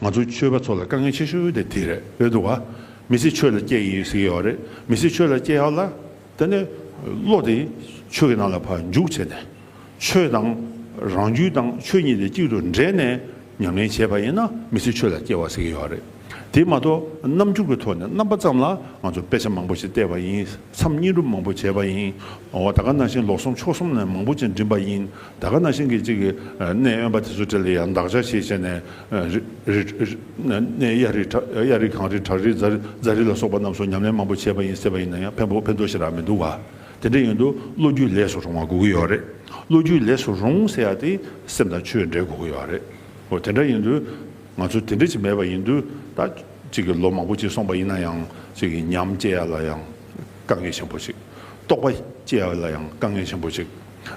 ང་ཚོ་ཆོས་པ་ཚོ་ལ་དཀའ་ངལ་ཆེ་ཤོས་དེ་དེ་རེད་འདུག་ག་མི་སེར་ཆོས་ལ་སྐྱེས་ཡིན་ཟེར་གྱི་ཡོད་རེད་མི་སེར་ཆོས་ལ་སྐྱེས་ཡག་ལ་དེ་ནས་བློ་དེ་ཆོས་ཀྱི་ནང་ལ་བར་འཇུག་བྱས་ནས་ཆོས་དང་རང་རྒྱུད་དང་ཆོས་གཉིས་དེ་གཅིག་ཏུ་འདྲེས་ནས་མྱ་ངན་བྱས་པ་ཡིན་ན་མི་སེར་ཆོས་ལ་སྐྱེས་བ་ཟེར་གྱི་ཡོད་རེད་དེ་མ་གཏོགས་རྣམ་འགྱུར་གྱི་ཐོག་ནས་རྣམ་པ་ཙམ་ལ་ང་ཚོ་དཔེ་ཆ་མང་པོ་ཞིག་བལྟས་པ་ཡིན། མཚམས་གཉིས་སྒྲུབ་མང་པོ་བྱས་པ་ཡིན། འོ་ད་ག་ན་ཤིང་ལོགས་གསུམ་ཕྱོགས་གསུམ་ནས་མང་པོ་ཅིག་འགྲིམས་པ་ཡིན། ད་ག་ན་ཤིང་གི་གཅིག་གནས་གཡོན་པ་དེ་ཚོ་དེ་ལ་ཡང་འདག་ཆ་ཞེས་བྱས་ནས། གནས་གཡའ་རི་གཡའ་རི་གངས་རི་བྲག་རི་རྫ་རི་ལ་སོགས་པ་རྣམས་སུ་ཉམས་ལེན་མང་པོ་བྱས་པ་ཡིན་ཟེར་བ་ཡིན་ན་ཡང་ཕན་པོ་ཕན་ཐོགས་ཤིག་རག་མི་འདུག་ག། དེ་འདྲ་ཡིན་དུ་བློ་རྒྱུད་ལས་སུ་རུང་བ་དགོས་ཀྱི་ཡོད་རེད། བློ་རྒྱུད་ལས་སུ་རུང་ཟེར་ཡ་དེ་སེམས་དང་ཆོས་འབྲེལ་དགོས་ཀྱི་ཡོད་རེད། འོ་དེ་འདྲ་ཡིན་དུ། ང་ཚོ་དེ་འདྲ་ཞིག་མེད་པ་ཡིན་དུས་ད་ཅིག་གི་ལོ་མང་པོ་ཅིག་སོང་པ་ཡིན་ན་ཡང་ཅིག་གི་ཉམས་སྐྱེ་ཡ་ལ་ཡང་དཀའ་ངལ་ཆེན་པོ་ཅིག་རྟོགས་པ་སྐྱེ་ཡ་ལ་ཡང་དཀའ་ངལ་ཆེན་པོ་ཅིག་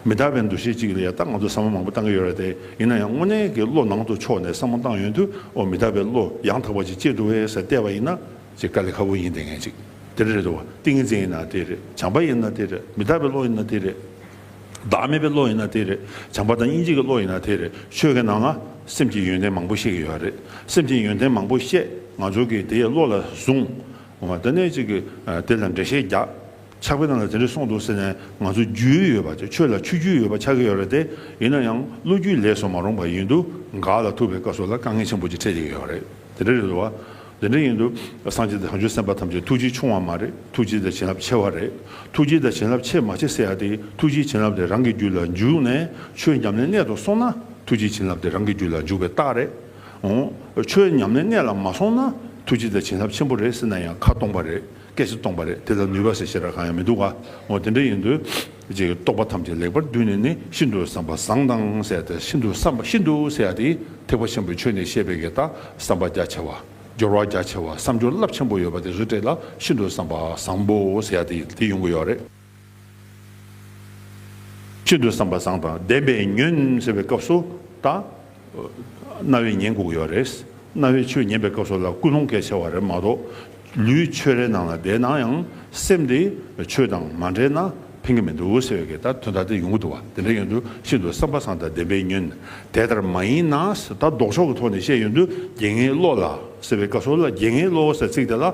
མི་དག་པའི་འདུ་ཤེས་ཅིག་ལ་ཡང་ད་ང་ཚོ་བསམ་བློ་མང་པོ་བཏང་གི་ཡོད་རེད་དེ་ཡིན་ན་ཡང་དངོས་གནས་ཀྱི་བློ་ནང་དུ་ཕྱོགས་ནས་བསམ་བློ་བཏང་ཡོད་དུས་འོ་མི་དག་པའི་བློ་ཡང་དག་པ་ཅིག་སྐྱེ་འགྲོ་བས་ཟེར་བལྟས་པ་ཡིན་ན་ཅིག་དཀའ་ལས་ཁ་པོ་ཡིན་དེ་ངེས་ཅིག་དེ་འདྲ་རེད་དོ་ཏིང་ངེ་འཛིན་ཡིན་ན་དེ་རེད་བྱམས་པ་ཡིན་ན་དེ་རེད་མི་དག་པའི་བློ་ཡིན་ན་དེ་རེད། བདག་མེད་པའི་བློ་ཡིན་ན་དེ་རེད། བྱམས་པ་དང་སྙིང་རྗེ་གི་བློ་ཡིན་ན་དེ་རེད། ཆོས་ཀྱི་ནང་ན་སེམས་ཀྱི་ཡོན་ཏན་མང་པོ་བཤད་ཀྱི་ཡོད་རེད། སེམས་ཀྱི་ཡོན་ཏན་མང་པོ་བཤད་ང་ཚོ་གིས་དེ་བློ་ལ་བཟུང། ད་གནས་གཅིག་གིས་དེ་ལ་འགྲེལ་བཤད་རྒྱག། ཆགས་པའི་ནང་ལ་དེ་འདྲས་སོང་འདུག་ཟེར་ནས་ང་ཚོ་རྒྱུས་ཡོད་པ་ཆོས་ལ་ཆུ་རྒྱུས་ཡོད་པ་ཆགས་ཀྱི་ཡོད་རེད་དེ། ཡིན་ན་ཡང་བློ་རྒྱུས་ལས་སོ་མ་རུང་པ་ཡིན་འདུག་འགག་ལ་ཐུག་པའི་སྐབས་སུ་ལ་དཀའ་ངལ་ཆེན་པོ་ཅིག་འཕྲད་ཀྱི་ཡོད་རེད། དེ་འདྲ་རེད་བ། དེ་འདྲ་ཡིན་དུས་སངས་རྒྱས་བྱང་ཆུབ་སེམས་དཔའ་ཐམས་ཅད་ཐུགས་རྗེ་ཆུང་བ་མ་རེད་ཐུགས་རྗེ་དང་བྱིན་རླབས་ཆེ་བ་རེད་ཐུགས་རྗེ་དང་བྱིན་རླབས་ཆེ་མ་ཆེ་ཟེར་ཡག་དེ་ཐུགས་རྗེ་བྱིན་རླབས་དེ་རང་གི་རྒྱུད་ལ་འཇུག་ནས་ཆོས་ཉམས་ལེན་གནད་དུ་སོང་ན་ཐུགས་རྗེ་བྱིན་རླབས་དེ་རང་གི་རྒྱུད་ལ་འཇུག་པའི་རྟགས་རེད་འོང། ཆོས་ཉམས་ལེན་གནད་ལ་མ་སོང་ན་ཐུགས་རྗེ་དང་བྱིན་རླབས་ཆེན་པོ་རེད་ཟེར་ན་ཡང་ཁ་སྟོང་པ་རེད། སྐད་ཅིག་སྟོང་པ་རེད་དེ་ལ་ནུས་པ་ཞེས་བྱེད་སྒྲ་གང་ཡང་མི་འདུག་ག་ངོ་དེ་འདྲ་ཡིན་དུས། རྗེས་ཀྱི་རྟོག་པ་ཐམས་ཅད་ལེགས་པར་བསྡུས་ནས་ནི་ཤིན་ཏུ་བསམ་པ་བཟང་དང་བསྲེས་ཏེ་ཤིན་ཏུ་བསམ་པ་ཤིན་ཏུ་བསྲེས་ཏེ་ཐེག་པ་ཆེན་པོའི་ཆོས་ནི་བཤད་པའི་གེགས་དང་བསམ་པ་རྒྱ་ཆེ་བ། སྦྱོར་བ་རྒྱ་ཆེ་བ་བསམ་སྦྱོར་རླབས་ཆེན་པོ་ཡོད་པ་དེ་རིགས་བསྒྲེས་ལ་ཤིན་ཏུ་བསམ་པ་བཟང་པོ་བསྲེས་ཏེ་དེ་ཡོང་གི་ཡོད་རེད། ཅི་འདོད་བསམ་པ་བཟང་དང་ལྡན་པས་ཉོན་ཟེར་བའི་སྐབས་སུ་ད། རྣ་བས་ཉན་དགོས་ཀྱི་བ་རེད། རྣ་བས་ཆོས་ཉན་པའི་སྐབས་སུ་ལ་ཀུན་སློང་གལ་ཆེ་བ་རེད་མ་གཏོགས། ལུས་ཆོས་རའི་ནང་ལ་བསྡད་ན་ཡང་སེམས་དེ་ཆོས་དང་མ་འབྲེལ་ན་ཕན་གྱི་མི་འདུག་ཟེར་བའི་ལྟར་དོན་དག་དེ་ཡོང་གི་འདུག་བ་དེ་འདྲ་ཡོད་དུས་ཅི་འདོད་བསམ་པ་བཟང་དང་ལྡན་པས་ཉོན། དེ་ལྟར་མ་ཡིན་ན་ད་ལྡོག་ཕྱོགས་ཀྱི་ཐོག་ནས་བཤད་ཡོད་དུས་དགེ་བསྔལ་བློ་ལ་ཟེར་བའི་སྐབས་སུ་ལ་དགེ་བསྔལ་བློ་ཟེར་ཚིག་དེ་ལ།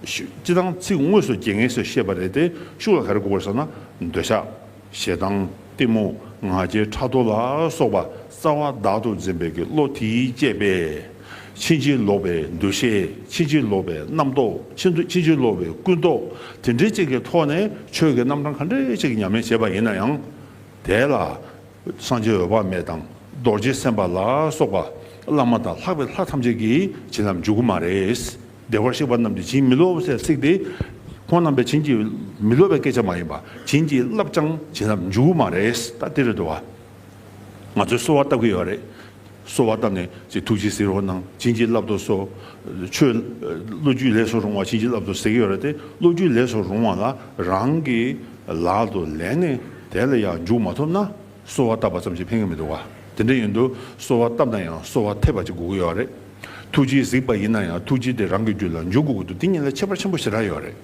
སྤྱི་དང་ཚིག་དངོས་སུ་རྒྱལ་ངེས་སུ་ཤེས་པ་རེད་དེ་ཤུགས་ལ་ག་རེ་དགོས་པར་སོང་ན་འདོད་ཆགས། ཞེ་སྡང། གཏི་མུག། ང་རྒྱལ་ཕྲག་དོག་ལ་སོགས་པ་རྩ་བ་བདག་ཏུ་འཛིན་པའི་གི་བློ་དེས་བསྐྱེད་པས། ཕྱིན་ཅི་ལོག་པའི་འདུ་ཤེས་ཕྱིན་ཅི་ལོག་པའི་རྣམ་རྟོག་ཕྱིན་ཅི་ལོག་པའི་ཀུན་རྟོག་དེ་འདྲའི་ཅིག་གི་ཐོག་ནས་ཆོས་ཀྱི་རྣམ་གྲངས་ག་འདྲའི་ཅིག་ཉམས་ལེན་བྱེད་པ་ཡིན་ན་ཡང། དེ་ལ། སངས་རྒྱས་འོད་དཔག་མེད་དང་རྡོ་རྗེ་སེམས་དཔའ་ལ་སོགས་པ་བླ་མ་དང་ལྷག་པའི་ལྷ་ཐམས་ཅད་ཀྱིས་བྱིན་རླབས་འཇུག་གི་མ་རེད། བདེ་བར་གཤེགས་པ་རྣམས་ཀྱི་བྱིན་མི་རློབ་སའི་ཚིག་སྟེ། ཁོང་རྣམས་པའི་བྱིན་གྱིས་མི་རློབ་པའི་སྐད་ཆ་མ་ཡིན་པ་བྱིན་གྱིས་བརླབས་ཀྱང་བྱིན་རླབས་འཇུག་མ་རེད་ད་ལྟའི་རེད་དོ། ང་ཚོས་གསོལ་བ་བཏབ་ཀྱི་ཡོད་རེད། གསོལ་བ་བཏབ་ནས་ཅིག་ཐུགས་རྗེས་གཟིགས་རོགས་གནང་བྱིན་གྱིས་བརླབ་ཏུ་གསོལ། ཆོས་བློ་རྒྱུད་ལས་སུ་རུང་བ་བྱིན་གྱིས་བརླབ་ཏུ་གཟིགས་ཀྱི་ཡོད་རེད་དེ་བློ་རྒྱུད་ལས་སུ་རུང་བ་ལ་རང་གི་ལག་ཏུ་ལེན་ནས་དེ་ལ་ཡང་འཇུག་མ་ཐུབ་ན་གསོལ་བ་བཏབ་པ་ཙམ་གྱིས་ཕན་གྱི་མི་འདུག་བ་དེ་འདྲ་ཡིན་དུས་གསོལ་བ་བཏབ་ན་ཡང་གསོལ་བ་འཐད་པ་ཅིག་དགོས་ཀྱི་ཡོད་རེད། ཐུགས་རྗེའི་གཟིགས་པ་ཡིན་ན་ཡང་ཐུགས་རྗེ་དེ་རང་གི་རྒྱུད་ལ་འཇུག་དགོས་ཀྱི་འདུག་དེ་ཉིད་ལ་ཁྱད་པར་ཆེན་པོ་ཞེ་དྲག་ཡོད་རེད།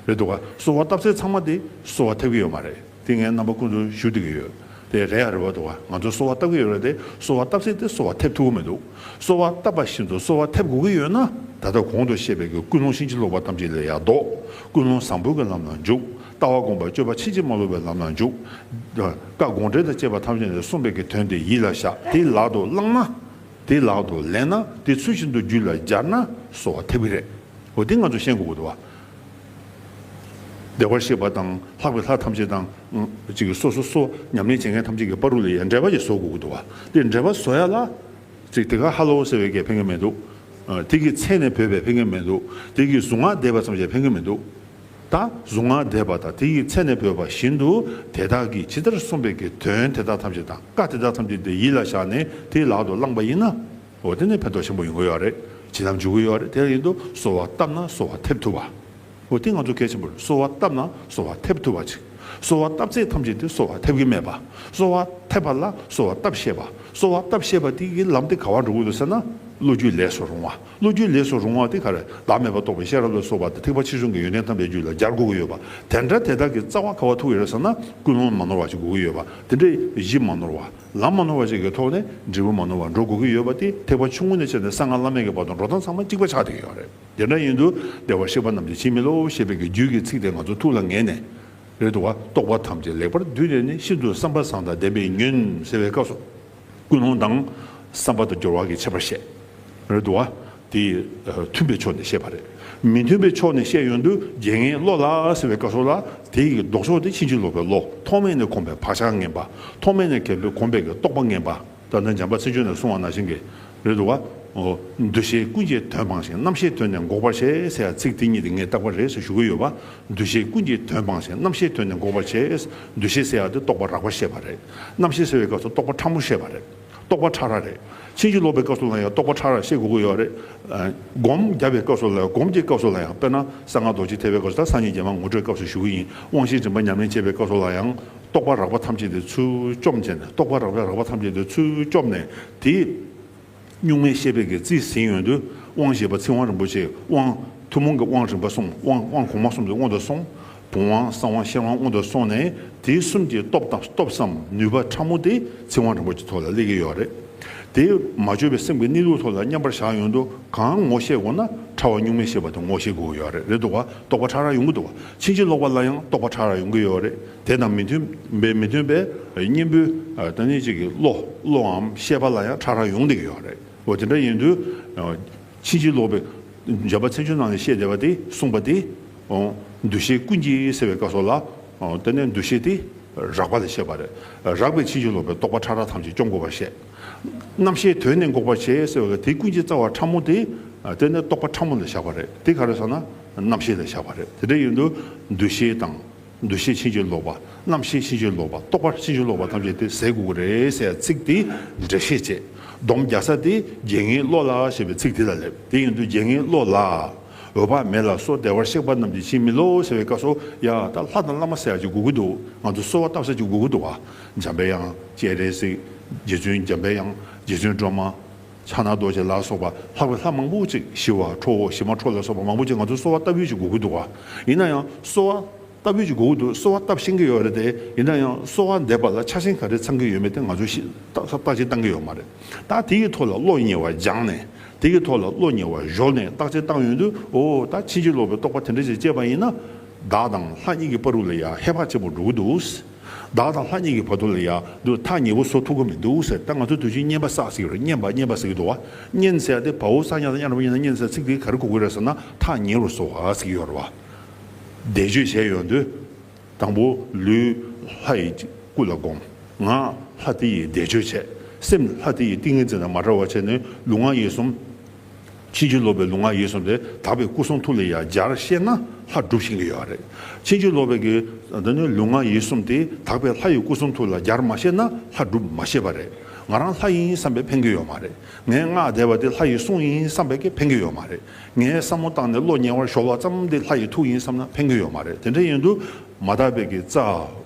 རེད་འདུག་ག་གསོལ་བ་བཏབ་ཚེ་ཚང་མ་དེ་གསོལ་བ་ཐེབས་ཀྱི་ཡོད་མ་རེད་དེ་ངའི་རྣམ་པ་ཁོང་ཚོ་ཞུ་བསྡད་ཀྱི་ཡོད་དེ་རེད་ཨ་རེད་བ་འདུག་ག་ང་ཚོ་གསོལ་བ་བཏབ་ཀྱི་ཡོད་རེད་དེ་གསོལ་བ་བཏབ་ཚེ་དེ་གསོལ་བ་ཐེབས་ཐུབ་ཀྱི་མི་འདུག་གསོལ་བ་བཏབ་པ་བཞིན་དུ་གསོལ་བ་ཐེབས་དགོས་ཀྱི་ཡོད་ན་ད་ལྟ་གོང་དུ་བཤད་པའི་གི་ཀུན་སློང་ཕྱིན་ཅི་ལོག་པ་ཐམས་ཅད་ལས་ཡར་ལྡོག་ཀུན་སློང་བཟང་པོའི་གི་ལམ་ལ་འཇུག་ལྟ་བ་སྒོམ་པ་སྤྱོད་པ་ཕྱིན་ཅི་མ་ལོག་པའི་ལམ་ལ་འཇུག་བཀའ་དགོངས་འགྲེལ་དང་བཅས་པ་ཐམས་ཅད་ནས་གསུངས་པའི་གི་དོན་དེ་ཡིད་ལ་བཞག་དེ་ལག་ཏུ་བླངས་ན། དེ་ལག་ཏུ་ལེན་ན་དེ་ཚུལ་བཞིན་དུ་རྒྱུད་ལ་སྦྱར་ན་གསོ་བ་ཐེབས་ཀྱི་རེད། འོ་དེ་ང་ཚོ་ཤེས་དགོས་དགོས་འདུག་བ། བདེ་བར་གཤེགས་པ་དང་ལྷག་པའི་ལྷ་ཐམས་ཅད་དང། གཅིག་གིས་སོ་སོ་སོ་ཉམས་ལེན་བྱེད་མཁན་ཐམས་ཅད་ཀྱི་པར་རུ་ལ་ཡང་འགྲེལ་པ་ཞིག་བཟོ་དགོས་ཀྱི་འདུག་བ། དེ་འགྲེལ་པ་བཟོ་ཡ་ལ། གཅིག་དེ་ག་ཧ་ལོ་ཟེར་བའི་སྐད་ཕན་གྱི་མེད་འདུག། དེ་གི་ཚེ་ནས་བོས་པའི་ཕན་གྱི་མེད་འདུག་དེ་གི་གཟུངས་སྔགས་བཟླས་པ་ཙམ་ཞིག་ཕན་གྱི་མེད་འདུག། དང་གཟུངས་སྔགས་བཟླས་པ་དང་དེ་ཡི་ཚེ་ནས་བོས་པ་བཞིན་དུ་དེ་དག་གིས་ཇི་ལྟར་གསུངས་པའི་གི་དོན་དེ་དག་ཐམས་ཅད་དང་བཀའ་དེ་དག་ཐམས་ཅད་དེ་ཡིད་ལ་བཞག་ནས་དེ་ལག་ཏུ་བླངས་པ་ཡིན་ན། འོ་དེ་ནས་ཕན་ཐོགས་ཆེན་པོ་ཡོང་གི་ཡོད་རེད་བྱིན་རླབས་འཇུག་གི་ཡོད་རེད་དེ་བཞིན་དུ་གསོལ་བ་བཏབ་ན་གསོལ་བ་ཐེབས་ཐུབ་པ། འོ་དེ་ང་ཚོ་གལ་ཆེན་པོ་རེད་གསོལ་བ་བཏབ་ན་གསོལ་བ་ཐེབས་ཐུབ་པ་ཅིག་གསོལ་བ་བཏབ་ཚད་ཐམས་ཅད་དེ་གསོལ་བ་ཐེབས་གི་མེད་པ་གསོལ་བ་ཐེབས་པ་ལ་གསོལ་བ་བཏབ་ཤེས་པ་གསོལ་བ་བཏབ་ཤེས་པ་དེ་ཡི་ལམ་དེ་ག་བར་འགྲོ་གི་འདུག་ཟེར་ན་བློ་རྒྱུད་ལས་སུ་རུང་བ། བློ་རྒྱུད་ལས་སུ་རུང་བ་དེ་ག་རེ་བདག་མེད་པར་རྟོགས་པའི་ཤེས་རབ་ལ་སོགས་པ་དེ་ཐེག་པ་ཕྱི་གཟུང་གི་ཡོན་ཏན་ཐམས་ཅད་རྒྱུད་ལ་སྦྱར་དགོས་ཀྱི་ཡོད་པ་དེ་འདྲ་དེ་དག་གི་རྩ་བ་ག་བ་ཐུག་ཡོད་རེད་བསམ་ན་ཀུན་སློང་མ་ནོར་བ་ཞིག་དགོས་ཀྱི་ཡོད་པ་དེ་འདྲ་གཞི་མ་ནོར་བ་ལམ་མ་ནོར་བ་ཞིག་གི་ཐོག་ནས་འབྲས་བུ་མ་ནོར་བར་འགྲོ་དགོས་ཀྱི་ཡོད་པ་དེ་ཐེག་པ་ཆུང་ངུ་ནས་བྱས་ནས་གསང་སྔགས་བླ་མེད་ཀྱི་བར་དུ་འགྲོ་སྟངས་ཚང་མ་གཅིག་པ་ཆགས་བསྡད་ཀྱི་ཡོད་རེད་དེ་འདྲ་ཡིན་དུ་བདེ་བར་གཤེགས་པ་རྣམས་ཀྱི་ཕྱིར་མི་སློབ་ཞེས་པའི་གི་རྒྱུད་ཀྱི་ཚིག་དེ་ང་ཚོ་ཐུགས་ལ་ངེས་ནས་རེད་དུ་བ་རྟོགས་པ་ཐམས་ཅད་ལེགས་པར་བསྡུས་ནས་ནི་ཤིན་ཏུ་བསམ་པ་བཟང་དང་ལྡན་པའི་ཉོན་ཟེར་བའི་སྐབས་སུ། ཀུན་སློང་དང། བསམ་པ་དང་སྦྱོར་བ་གྱི་ཁྱད་པར་བཤད། རེད་འདུག་བ། དེ། མཐུན་པའི་ཕྱོགས་ནས་བཤད་པ་རེད། མི་མཐུན་པའི་ཕྱོགས་ནས་བཤད་ཡོང་དུས་རྒྱལ་ངན་བློ་ལ་ཟེར་བའི་བཀའ་སྲོལ་ལ། དེ་ཡི་ལྡོག་ཕྱོགས་དེ་ཕྱིན་ཅི་ལོག་པའི་བློ་ཐོག་མེད་ནས་གོམས་པའི་བག་ཆགས་ངན་པ། ཐོག་མེད་ནས་གལ་ཏེ་གོམས་པའི་གི་རྟོག་པ་ངན་པ། ད་ནི་འཇམ་པ་ཚིག་ཆོས་ནས་གསུང་བ་ན་བཞིན་གྱི། རེད་འདུག་བ། འོ། འདུ་ཤེས་ཀུན་གྱི་དོན་སྤངས་ཤིང་རྣམ་ཤེས་དོན་ནི་འགོག་པར་བྱེད་ཟེར་བ་ཚིག་དེ་གཉིས་དེ་ངས་བཏགས་པ་རེད་ཟེར་ཞུ་གི་ཡོད་བ། འདུ་ཤེས་ཀུན་གྱི་དོན་སྤངས་ཤིང་རྣམ་ཤེས་དོན་ནི་འགོག་པར་བྱེད། འདུ་ཤེས་ཟེར་བ་དེ་རྟོག་པ་རགས་པར་བཤད་པ་རེད། རྣམ་ཤེས་ཟེར་བའི་སྐབས་སུ་རྟོག་པ་ཕྲ་མོ་བཤད་པ་རེད། རྟོག་པ་ཕྲ་རགས་རེད། ཕྱིན་ཅི་ལོག་པའི་སྐབས་སུ་ལ་ཡང་རྟོག་པ་ཕྲ་རགས་བཤད་དགོས་ཀྱི་ཡོད་རེད། སྒོམ་བརྒྱ་པའི་སྐབས་སུ་ལ་ཡང་སྒོམ་གྱི་སྐབས་སུ་ལ་ཡང་དཔེར་ན་གསང་སྔགས་རྡོ་རྗེ་ཐེག་པའི་སྐབས་སུ་དང་སངས་རྒྱས་རྒྱལ་མ་ངོ་སྤྲོད་སྐབས་སུ་ཞུ་གི་ཡིན་དབང་བཞིའི་རིམ་པ་ཉམས་ལེན་བྱེད་པའི་སྐབས་སུ་ལ་ཡང། རྟོག་པ་རགས་པ་ཐམས་ཅད་དེ་ཚུལ་བཅོམ་བྱས་ནས་རྟོག་པ་རགས་པའི་རགས་པ་ཐམས་ཅད་དེ་ཚུལ་བཅོམ་ནས་དེ། གཉུག་མའི་ཤེས་དཔལ་གྱི་རྩིས་ཟིན་ཡོད་དུས་དབང་ཞེས་པ་ཚིག་དབང་རིན་པོ་ཆེའི་དབང། ཐུན་མོང་གི་དབང་རིམ་པ་གསུམ་དབང་དབང་གོང་མ་གསུམ་གྱི་དབང་དུ་སོང། བུམ་དབང་གསང་དབང་ཤེར་དབང་དབང་དུ་སོང་ནས་དེ་གསུམ་གྱི་སྟོབས་དང་སྟོབས་སམ་ནུས་པ་ཕྲ་མོ་དེ་ཚིག་དབང་རིན་པོ་ཆེ་ཐོག་ལ་སླེབས་ཀྱི་ཡོད་རེད་དེ། མ་བཅོས་པའི་སེམས་ཀྱི་གནས་ལུགས་ཐོག་ལ་མཉམ་པར་བཞག་ཡོང་དུས་གང་ངོ་ཤེས་དགོས་ན་ཕྲ་བ་གཉུག་མའི་ཤེས་པ་དེ་ངོ་ཤེས་དགོས་ཀྱི་ཡོད་རེད་དོ། རྟོགས་པ་ཕྲ་རགས་ཡོང་གི་འདུག་ཕྱིན་ཅི་ལོག་པ་ལ་ཡང་རྟོགས་པ་ཕྲ་རགས་ཡོང་གི་ཡོད་རེད་དེ་དང་མི་མཐུན་པའི་མི་མཐུན་པའི་གཉེན་པོའི་བདག་ཉིད་ཅིག་གི་བློ་བློའམ་ཤེས་པ་ལ་ཡང་ཁྲ་ཁྲ་ཡོང་དེ་ཡོད་རེད་འོ་དེ་འདྲ་ཡིན་དུས་ཕྱིན་ཅི་ལོག་པའི་སྦྱར་བ་ཚན་ཆུང་ནང་ནས་བཤད་བསྡད་པ་དེས་གསུངས་པ་དེ་འདུ་ཤེས་ཀུན་གྱི་སེལ་བའི་བཀའ་སོགས་ལ་བརྟེན་ནས་འདུ་ཤེས་དེ་རགས་པ་ལས་བཤད་པ་རེད་རགས་པའི་ཕྱིན་ཅི་ལོག་པའི་རྟོག་པ་ཁྲ་ཁྲ་ཐམས་ཅད་སྐྱོང་དགོས་པར་བཤད། རྣམ་ཤེས་དོན་ནི་འགོག་པར་བྱེད་ཟེར་བ་ལ་དེ་ཀུན་གྱི་རྩ་བ་ཕྲ་མོ་དེས་བརྟེན་ནས་རྟོག་པ་ཕྲ་མོ་ལ་བཞག་པ་རེད་དེ་ག་རེ་སོང་ན་རྣམ་ཤེས་ལ་བཞག་པ་རེད་དེ་འདྲ་ཡིན་དུས་འདུ་ཤེས་དང། འདུ་ཤེས་ཕྱིན་ཅི་ལོག་པ། རྣམ་ཤེས་ཕྱིན་ཅི་ལོག་པ། རྟོག་པ་ཕྱིན་ཅི་ལོག་པ་ཐམས་ཅད་དེ་ཟས་གུ་གུ་རེ་ཟེར་ཡང་ཚིག་དེའི་འགྲེལ་བཤད་བྱེད། སྡོམ་རྒྱ་ས་དེ་རྒྱལ་ངའི་བློ་ལ་ཞེས་པའི་ཚིག་དེ་ལ་སླེབ། དེ་ཡིན་དུ་རྒྱལ་ངའི་བློ་ལ། འོད་དཔག་མེད་ལ་སོགས་བདེ་བར་གཤེགས་པ་རྣམས་ཀྱིས་ཕྱིན་མི་ལོག་ཟེར་བའི་བཀའ་སོགས་ཡ། ད་ལྷ་དང་བླ་མ་ཟེར་ཡག་ཅིག་གུ་གུ་འདུག་ང་ཚོ་གསོལ་བ་བཏབ་ས་ཅིག་གུ་གུ་འདུག་བ། འཇམ་པའི་དབྱངས་ཅེས་རེ་ཟིག། རྗེ་བཙུན་འཇམ་པའི་དབྱངས། རྗེ་བཙུན་སྒྲོལ་མ། ཕྱག་ན་རྡོ་རྗེ་ལ་སོགས་པ་ལྷག་པའི་ལྷ་མང་པོ་ཅིག་ཞི་བ་ཁྲོ་བོ་ཞི་མ་ཁྲོ་ལ་སོགས་པ་མང་པོ་ཅིག་ང་ཚོ་གསོལ་བ་བཏབ་ཡོད་ཅེས་སྒུག་གི་འདུག་ག་ཡིན་ན་ཡང་གསོལ་བ་བཏབ་ཡོད་ཅེས་སྒུག་གི་འདུག་གསོལ་བ་བཏབ་ཤེས་ཀྱི་ཡོད་རེད་དེ་ཡིན་ན་ཡང་གསོལ་བ་འདེབས་པ་ལ་ཆ་ཞེན་ག་རེ་ཚང་གི་ཡོད་མེད་དེ་ང་ཚོས་ཤེས་རྟགས་ཅན་བཏང་གི་ཡོད་མ་རེད་ད་དེ་ཡི་ཐོག་ལ་བློ་ཉེ་བ་སྦྱངས་ནས་དེ་ཡི་ཐོག་ལ་བློ་ཉེ་བ་གཞོག་ནས་རྟགས་ཅན་བཏང་ཡོད་དུས་འོ་ད་ཕྱིན་ཅི་ལོག་པའི་རྟོག་པ་དེ་འདྲ་ཞིག་སྐྱེས་པ་ཡིན་ན་བདག་དང་ལྷ་གཉིས་ཀྱི་པར་རུ་ལ་ཡང་ཧེ་བག་ཆེན་པོ་འགྲོ་གི་འདུག། བདག་དང་ལྷ་གཉིས་ཀྱི་བར་དོ་ལ་ཡང་དུ་ཐག་ཉེ་བོ་བཟོ་ཐུབ་ཀྱི་མི་འདུག་ཟེར་ད་ང་ཚོ་དུས་ཆེན་བསྙེན་པ་བསགས་ཟིག་རེད་བསྙེན་པ་བསྙེན་པ་ཟེར་གྱི་འདུག་བ་བསྙེན་ཟེར་ཏེ་བ་འུ་ས་ཉག་དང་གཡག་རིན་པོ་ཆེ་ན་བསྙེན་ཟེར་ཚིག་དེ་ག་རེ་གོ་དགོས་རེད་ཟེར་ན་ཐག་ཉེ་བོར་བཟོ་ག་ཟིག་ཡོད་རེད་བ། བཟླས་བརྗོད་བྱས་ཡོང་དུས་དང་པོ་ལུས་ལྷ་ཡི་སྐུ་ལ་བསྒོམ། ངག་ལྷ་དེ་ཡི་བཟླས་བརྗོད་བྱས། སེམས་ལྷ་དེ་ཡི་ཏིང་ངེ་འཛིན་དང་མ་བྲལ་བ་བྱས་ནས་ལུས་ངག་ཡིད་གསུམ། ཕྱིན་ཅི་ལོག་པའི་ལུང་ང་ཡིད་གསུམ་དེ་དག་པའི་སྐུ་གསུང་ཐུགས་ལས་ཡང་སྦྱར་ཤེས་ན་ལྷ་སྒྲུབ་བྱེད་ཀྱི་ཡོད་རེད། ཕྱིན་ཅི་ལོག་པའི་གི་འདི་ནི་ལུང་ང་ཡིད་གསུམ་དེ་དག་པའི་ལྷ་ཡི་སྐུ་གསུང་ཐུགས་ལ་སྦྱར་མ་ཤེས་ན་ལྷ་སྒྲུབ་མ་ཤེས་པ་རེད། ང་རང་ལྷ་ཡིན་བསམ་པས་ཕན་གྱི་ཡོད་མ་རེད། ངས་སྔགས་བཟླས་པ་དེ་ལྷ་ཡི་གསུང་ཡིན་བསམ་པས་ཀྱི་ཕན་གྱི་ཡོད་མ་རེད། ངས་བསམ་བློ་བཏང་ནས་བློ་ཉེ་བར་ཞོག་བ་ཙམ་དེ་ལྷ་ཡི་ཐུགས་ཡིན་བསམ་ན་ཕན་གྱི་ཡོད་མ་རེད་དེ་འདྲ་ཡིན་དུ་མ་དག་པའི་གི་རྩ་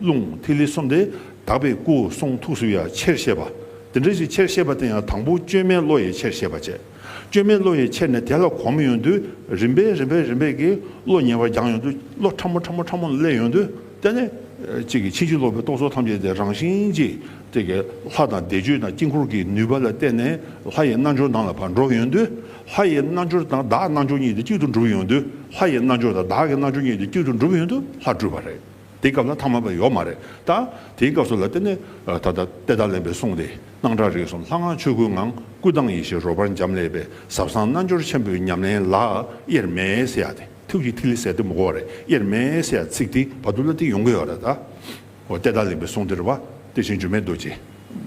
རླུང་ཐིག་ལེ་གསུམ་དེ་དག་པའི་སྐུ་གསུང་ཐུགས་སུ་ཡང་ཆེར་ཤེས་པ། དེ་འདྲ་ཞིག་ཆེར་ཤེས་པ་དེ་ཡང་དང་པོ་བཅོས་མའི་བློ་ཡིས་ཆེར་ཤེས་པར་བྱེད། བཅོས་མའི་བློ་ཡིས་ཆེར་ནས་དེ་ལ་གོམས་ཡོང་དུས་རིམ་པས་རིམ་པས་རིམ་པས་ཀྱིས་བློ་ཉེ་བར་སྦྱངས་ཡོང་དུས་བློ་ཕྲ་མོ་ཕྲ་མོ་ཕྲ་མོར་སླེབས་ཡོང་དུས་དེ་ནས་ཅིག་གིས་ཕྱིན་ཅི་ལོག་པའི་རྟོག་ཚོགས་ཐམས་ཅད་དེ་རང་བཞིན་གྱིས་དེ་ཀྱི་ལྷ་དང་བཟླས་བརྗོད་དང་དཀྱིལ་འཁོར་གྱི་ནུས་པ་ལ་བརྟེན་ནས་ལྷ་ཡི་རྣལ་འབྱོར་དང་ལ་བར་འགྲོ་ཡོང་དུས་ལྷ་ཡི་རྣལ་འབྱོར་དང་བདག་རྣལ་འབྱོར་གཉིས་དེ་གཅིག་ཏུ་འགྲུབ་ཡོང་དུས་ལྷ་ཡི་རྣལ་འབྱོར་དང་བདག་གི་རྣལ་འབྱོར་གཉིས་དེ་གཅིག་ཏུ་འགྲུབ་ཡོང་དུས་ལྷ་སྤྲུལ་པ་རེད། དེའི་སྐབས་ན་ཐ་མ་པའི་ཡོག་མ་རེད་ད། དེའི་སྐབས་སུ་ལ་དེ་ནས་ད་ལྟ་དཔལ་ཐང་ལེན་པའི་གསུང་དེ་སྣང་གྲགས་རིགས་གསུམ་ལྷ་སྔགས་ཆོས་སྐུའི་ངང་སྐུ་དང་ཡེ་ཤེས་རོལ་པར་འབྱམས་ཀླས་པའི་ཟབ་གསང་རྣལ་འབྱོར་ཆེན་པོའི་ཉམས་ལེན་ལ་དབྱེར་མེད་སེ་ཡ་སྟེ་ཐུགས་ཀྱི་ཐིག་ལེ་ཟད་དེ་མུག་གོ་རེ་དབྱེར་མེད་སེ་ཡ་ཚིག་དེ་བར་དུ་ལ་དེ་ཡོང་གི་ཡོག་རེ་ད། འོ་དཔལ་ཐང་ལེན་པའི་གསུང་དེར་བ་དེ་བཞིན་འགྱུར་མེད་རྡོ་རྗེ་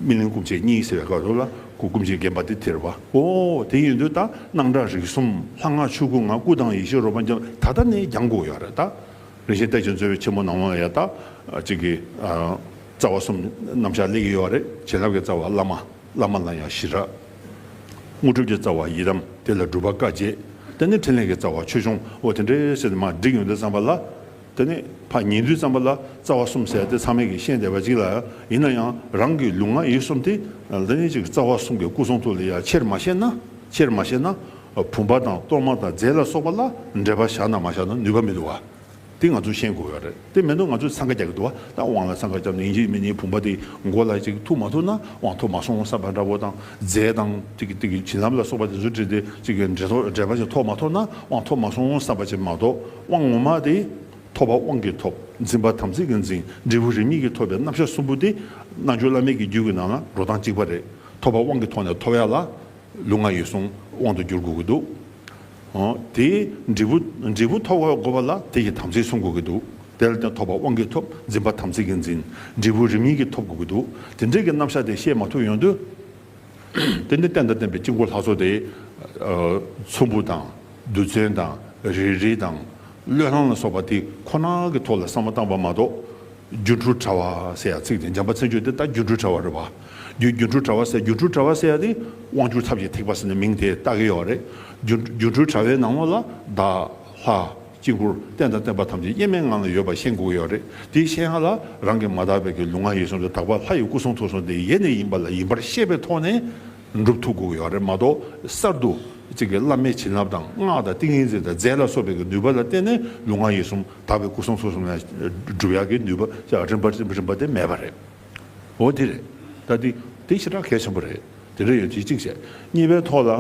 སྨིན་གླིང་སྐུ་མཆེད་གཉིས་ཟེར་བའི་སྐབས་སུ་ལ་སྐུ་སྐུ་མཆེད་རྒན་པ་དེ་དེར་བ་འོ་དེ་ཡིན་དུས་ད་སྣང་གྲགས་རིགས་གསུམ་ལྷ་སྔགས་ཆོས་སྐུའི་ངང་སྐུ་དང་ཡེ་ཤེས་རོལ་པར་འབྱམས་ད་ལྟ་ནས་རྒྱང་གོ་ཡོག་རེ་ད། རིན་ཆེན་སྟེགས་ཀྱི་མཛོད་པའི་ཆེན་མོ་ནང་ལོང་ཡ་དག་ཅིག་གི། རྩ་བ་གསུམ་རྣམ་གཞག་ལས་ཀྱི་ཡོ་བ་རེ་བྱིན་རླབས་ཀྱི་རྩ་བ་བླ་མ་བླ་མ་ལ་ཡང་ཞི་རགས། དངོས་གྲུབ་ཀྱི་རྩ་བ་ཡི་དམ་དེ་ལ་སྒྲུབ་པ་བཀའ་བརྒྱད་དེ་ནི་ཕྲིན་ལས་ཀྱི་རྩ་བ་ཆོས་འབྱུང་འོ་དེ་འདྲའི་སེར་སྣ་མ་བསྒྲིགས་ཡོན་ཏན་བརྩམས་པ་ལ། དེ་ནི་ཕ་ཉིན་བདུད་བརྩམས་པ་ལ་རྩ་བ་གསུམ་བསལ་ཏེ་ཚང་མེད་ཀྱི་ཤན་འདེབས་པ་ཅིག་ལ་ཡིན་ན་ཡང་རང་གི་ལུས་ངག་ཡིད་གསུམ་སྟེ། རྩ་བ་གསུམ་གྱི་སྐུ་གསུང་ཐུགས་ལས་ཡ་ཆེར་མ་བཤད་ན། ཆེར་མ་བཤད་ན། བུམ་པ་དང་གཏོར་མ་དང་རྫས་ལ་སོགས་པ་ལ་འབྲེལ་པ་བཞག་ན་མ་བཞག་ན་ནུས་པ་མི་འདུག་བ། དེ་ང་ཚོས་ཤེས་དགོས་བ་རེད་དེ་མེད་ན་ང་ཚོས་འཚང་ཁ་རྒྱག་གི་འདུག་བ་ད་དབང་ལ་འཚང་ཁ་རྒྱབ་ན་ཡིན་གཅིག་མིན་གཉིས་བུམ་པ་དེ་མགོ་ལ་ཅིག་ཐུག་མ་ཐུག་ན་དབང་ཐོབ་མ་སོང་བསམ་པ་འདྲ་བོ་དང་རྫས་དང་བྱིན་རླབས་ལ་སོགས་པ་དེ་ཚོ་བྲིས་ཏེ་ཅིག་འབྲེལ་པ་ཅིག་ཐོབ་མ་ཐོབ་ན་དབང་ཐོབ་མ་སོང་བསམ་པ་ཅིག་མ་གཏོགས་དབང་ངོ་མ་དེ་ཐོབ་པ་དབང་གིས་ཐོབ་འཛིན་པ་དམ་ཚིག་གིས་འཛིན་འབྲས་བུ་རིམ་གཉིས་ཀྱིས་ཐོབ་པའི་རྣམ་གཞག་གསུམ་པོ་དེ་རྣལ་འབྱོར་བླ་མེད་ཀྱི་རྒྱུད་ཀྱི་ནང་ན་འགྲོ་སྟངས་གཅིག་པ་རེད་ཐོབ་པ་དབང་གིས་ཐོབ་ནས་ཐོབ་ཡ་ལ། ལུག་ང་ཡོད་གསུང་དབང་དུ་འགྱུར་དགོས་ཀྱི་འདུག་དེས་འབྲས་བུ་འབྲས་བུ་ཐོབ་དགོས་པ་ལ་དེ་ཡི་དམ་ཚིག་བསྲུང་དགོས་ཀྱི་འདུག་དེ་ལ་དེ་ཐོབ་པ་དབང་གིས་ཐོབ་འཛིན་པ་དམ་ཚིག་གིས་འཛིན་འབྲས་བུ་རིམ་གཉིས་ཀྱིས་ཐོབ་དགོས་ཀྱི་འདུག་དེ་འབྲས་ཀྱི་རྣམ་གཞག་དེ་བཤད་མ་ཐུབ་ཡོང་དུས། དེ་ནི་བསྟན་དང་བསྟན་པའི་དཀྱིལ་འཁོར་ལྷ་ཚོགས་དེ། ཚོམ་བུ་དང་རྡུལ་ཚོན་དང་རེ་རེ་དང། བློས་བསླང་ལ་སོགས་པ་དེ་ཁོ་ན་གི་ཐོག་ལ་བསམ་བློ་བཏང་བ་མ་གཏོགས། སྒྱུ་འཕྲུལ་དྲ་བ་ཟེར་ཡ་ཚིག་དེ་འཇམ་པ་ཚིག་མཆོག་དེ་ད་སྒྱུ་འཕྲུལ་དྲ་བ་རེད་བ། རྒྱུ་སྒྱུ་འཕྲུལ་དྲ་བ་ཟེར་སྒྱུ་འཕྲུལ་དྲ་བ་ཟེར་ཡ་དེ་དབང་ཕྱུག་ཚབ་ཀྱི་ཐེག་པ་ཟེར་ནས་མིང་དེ་བཏགས་ཀྱི་ཡོད་བ་རེད། སྒྱུ་སྒྱུ་འཕྲུལ་དྲ་བའི་ནང་ལོགས་ལ་བདག། ལྷ། དཀྱིལ་འཁོར་རྟེན་དང་བརྟེན་པ་ཐམས་ཅད་དབྱེར་མེད་ངང་ལ་ཡོད་པ་ཤེས་དགོས་ཀྱི་ཡོད་རེད་དེ་ཤེས་ཡ་ལ་རང་གི་མ་དག་པའི་གི་ལུས་ངག་ཡིད་གསུམ་དུ་དག་པ་ལྷ་ཡི་སྐུ་གསུང་ཐུགས་གསུང་དེ་ཡེ་ནས་ཡིན་པ་ལ་ཡིན་པར་ཤེས་པའི་ཐོག་ནས། འགྲུབ་ཐུབ་དགོས་ཡོད་རེད་མ་གཏོགས་གསར་དུ་གཅིག་གིས་བླ་མའི་བྱིན་རླབས་དང་སྔགས་དང་ཏིང་ངེ་འཛིན་དང་རྫས་ལ་སོགས་པའི་ནུས་པ་ལ་བརྟེན་ནས་ལུས་ངག་ཡིད་གསུམ་དག་པའི་སྐུ་གསུང་ཐུགས་གསུམ་ལ་སྒྲུབ་ཡག་གི་ནུས་པ་རིམ་པ་རིམ་པ་དེ་མེད་པ་རེད། འོ་དེ་རེད་ད། དེ་ཞེ་དྲག་གལ་ཆེན་པོ་རེད། དེ་འདྲ་ཡོད་དེ་གཅིག་བྱས། གཉིས་པའི་ཐོག་ལ།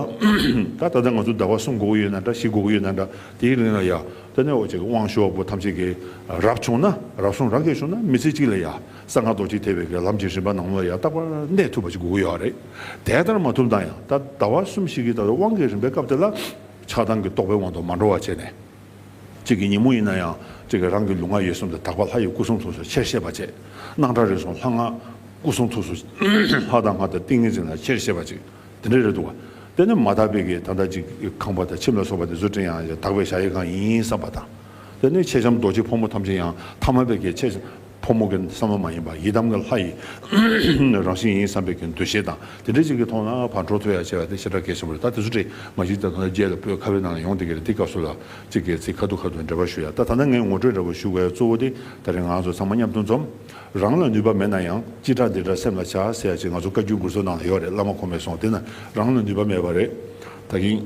ད་ད་ལྟ་ང་ཚོ་ཟླ་བ་གསུམ་འགོར་གྱི་ཡོད་ན་འདྲ་བཞི་འགོར་གྱི་ཡོད་ན་འདྲ་དེའི་རིང་ལ་ཡ། ད་ནི་ཨོ་ཅེ་དབང་ཤོག་པོ་ཐམས་ཅད་ཀྱིས་རབ་བྱུང་ན་རབ་སོང་རབ་རྒྱས་བྱུང་ན་མི་ཚེ་གཅིག་ལ་ཡ། གསང་སྔགས་རྡོ་རྗེ་ཐེག་པའི་སྒེར་ལམ་གྱི་རིམ་པ་ནང་ལོ་ཡང་རྟག་པར་གནས་ཐུབ་པ་ཅིག་དགོས་ཀྱི་ཡོད་རེད། དེ་ལྟར་མ་ཐུབ་ན་ཡང་ད་ཟླ་བ་གསུམ་བཞི་གི་ད་ལོའི་དབང་གི་རིམ་པའི་སྐབས་དེ་ལ། ཆགས་སྡང་གི་རྟོག་པའི་དབང་དུ་མ་འགྲོ་བ་བྱས་ནས། གཅིག་གི་ཉིན་མོ་ཡིན་ན་ཡང་གཅིག་གི་རང་གི་ལུས་ངག་ཡིད་གསུམ་དུ་དག་པ་ལྷ་ཡི་སྐུ་གསུང་ཐུགས་སུ་ཆེར་ཤེས་པ་བཅས་སྣང་གྲགས་རིག་གསུམ་ལྷ་སྔགས་སྐུ་གསུང་ཐུགས་སུ་ལྷ་དང་སྔགས་དང་ཏིང་ངེ་འཛིན་ལ་ཆེར་ཤེས་པ་ཅིག་དེ་འདྲ་རེད་འདུག་དེ་ནི་མ་དག་པའི་གིས་ད་ལྟ་ཅིག་ཁང་པ་དང་ཁྱིམ་ལ་སོགས་པ་དེ་ཚོ་བྲིས་ཡང་དག་པའི་བྱ་ཡི་གང་ཡིན་བསམ་པ་དང། དེ་ནི་མཆེད་ལྕམ་རྡོ་རྗེ་ཕོ་མོ་ཐམས་ཅད་ཡང་ཐ་མལ་པའི་གིས་མཆེད། ཕོ་མོ་གི་བསམ་བློ་མ་ཡིན་པར་ཡི་དམ་གྱི་ལྷ་ཡི་རང་བཞིན་ཡིན་བསམ་པའི་གྱི་འདུ་ཤེས་དང་དེ་འདྲའི་ཅིག་གི་ཐོག་ན་བར་འགྲོ་ཐུ་ཡ་བྱས་པ་དེ་ཤ་ཁྲག་གེ་ཆེན་པོ་རེད་ད་དེ་ཚོ་བྲིས་མ་གཞི་ད་དུང་རྒྱལ་ལ་སྤོས་ཁ་བའི་ནང་ལ་ཡོང་དེ་གི་རེད་དེ་སྐབས་སུ་ལ་ཅིག་གི་ཚིག་ཁ་ཐུག་ཁ་ཐུག་འབྲེལ་བ་ཞུ་ཡ་ད་ད་ནི་ངས་ངོ་སྤྲོད་འདྲ་པོ་ཞུ་བའི་གཙོ་བོ་དེ་ད་རེས་ང་ཚོ་ཚང་མ་མཉམ་དུ་འཛོམས། རང་ལ་ནུས་པ་མེད་ན་ཡང་ཅི་དྲག་འདི་དྲག་སེམས་ལ་བྱ་ཟེར་ཡ་ཅིག་ང་ཚོ་བཀའ་བརྒྱུད་མགུར་ཚོ་ནང་ལ་ཡོད་རེད་བླ་མ་ཁོང་མེད་སོང་དེ་ན་རང་ལ་ནུས་པ་མེད་པ་རེད། ད་གིན།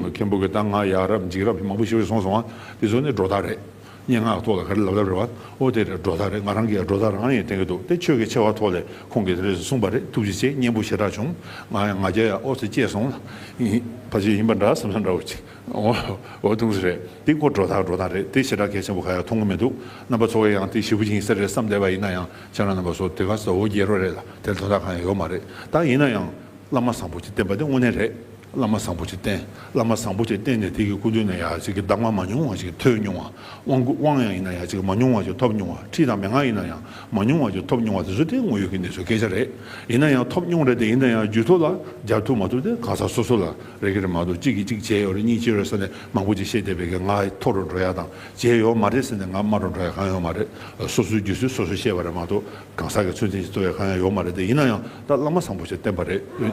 མཁན་པོ་གི་ད་ང་ཡག་རབས་འཇིགས་རབས་མང་པོ་ཞིག་རེད་སོང་སོང་ང་དེ་ཚོ་ནི་སྒྲོ་བཏགས་རེད། སྙན་ངག་ཐོག་ལ་ག་རེ་ལབ་ལབ་རེད་བ། ཨོ་དེ་རེད་སྒྲོ་ཐག་རེད་ང་རང་གིས་སྒྲོ་ཐག་རང་ཡིན་བསྟན་གྱི་འདུག་དེ་ཆོས་ཀྱི་ཆེ་བ་ཐོག་ལས་ཁོང་གིས་དེ་རེད་ཟེར་གསུངས་པ་རེད་ཐུགས་རྗེ་ཆེ་སྙན་པོ་ཞེ་དྲག་བྱུང་ང་ཡང་ང་རྒྱལ་ཡང་ཨོ་ཟེར་སྐྱེས་སོང་ལ། ཕ་ཆོས་ཡིན་པ་འདྲ་བསམ་ས་འདྲ་བོ་ཅིག་ཨོ་ཨོ་ཐུགས་རྗེ་རེད་དེ་ཁོ་སྒྲོ་ཐག་སྒྲོ་ཐག་རེད་དེ་ཞེ་དྲག་གལ་ཆེན་པོ་ག་ཡང་མཐོང་གི་མི་འདུག་རྣམ་པ་ཚོ་བས་ཡང་དེ་ཞེ་བུ་ཅིག་ཡིན་ས་རེད་བསམ་བསྡད་པ་ཡིན་ན་ཡང་ཁྱེད་རང་རྣམ་པ་ཚོ་དེ་ག་ཟོ་བོ་རྒྱལ་རོ་རེད་ལ་དེར་དོན་དག་གང་ཡང་ཡོད་མ་རེད་ད་ཡིན་ན་ཡང་བླ་མ་བཟང་པོ་ཅིག་བསྟེན་པ་དེ་དངོས་གནས་རེད། བླ་མ་བཟང་པོ་ཆེ་བསྟེན། བླ་མ་བཟང་པོ་ཆེ་བསྟེན་ནས་དེ་གི་སྐུ་མདུན་ནས་ཡང་ཅིག་གི་གདམས་ངག་མ་ཉུང་བ་ཞིག་ཐོས་མྱོང་བ། དབང་སྐུར་དབང་ཡང་ཡིན་ན་ཡང་ཅིག་མ་ཉུང་བ་ཞིག་ཐོབ་མྱོང་བ། ཁྲིད་དང་མན་ངག་ཡིན་ན་ཡང་མ་ཉུང་བ་ཞིག་ཐོབ་མྱོང་བ་དེ་ཚོ་དེ་དངོས་ཡོད་ཀྱི་གནས་ཚུལ་སྐད་ཆ་རེད། ཡིན་ན་ཡང་ཐོབ་མྱོང་རེད་དེ་ཡིན་ན་ཡང་རྒྱུད་ཐོག་ལ་སྦྱར་ཐུབ་མ་ཐུབ་དེ་གང་ཟག་སོ་སོ་ལ་རེ་གི་རེད་མ་གཏོགས་གཅིག་གིས་གཅིག་བྱས་ཡོད་རེད་གཉིས་བྱས་རེད་ཟེར་ནས་མང་པོ་ཅིག་བཤད་བསྡད་པའི་གི་ང་ཐོག་རུ་འགྲོ་ཡག་དང་བྱས་ཡོད་མ་རེད་ཟེར་ནས་ང་སྨྲ་རུ་འགྲོ་ཡག་གང་ཡོད་མ་རེད། སོ་སོའི་རྒྱུད་སྲོལ་སོ་སོས་བཤད་པ་རེད་མ་གཏོགས་གང་ཟག་གི་ཚུལ་མཚན་ཞིག་རྩོད་ཡག་གང་ཡང་ཡོད་མ་རེད་དེ་ཡིན་ན་ཡང་ད་བླ་མ་བཟང་པོ་ཆེ་བསྟེན་པ་རེད།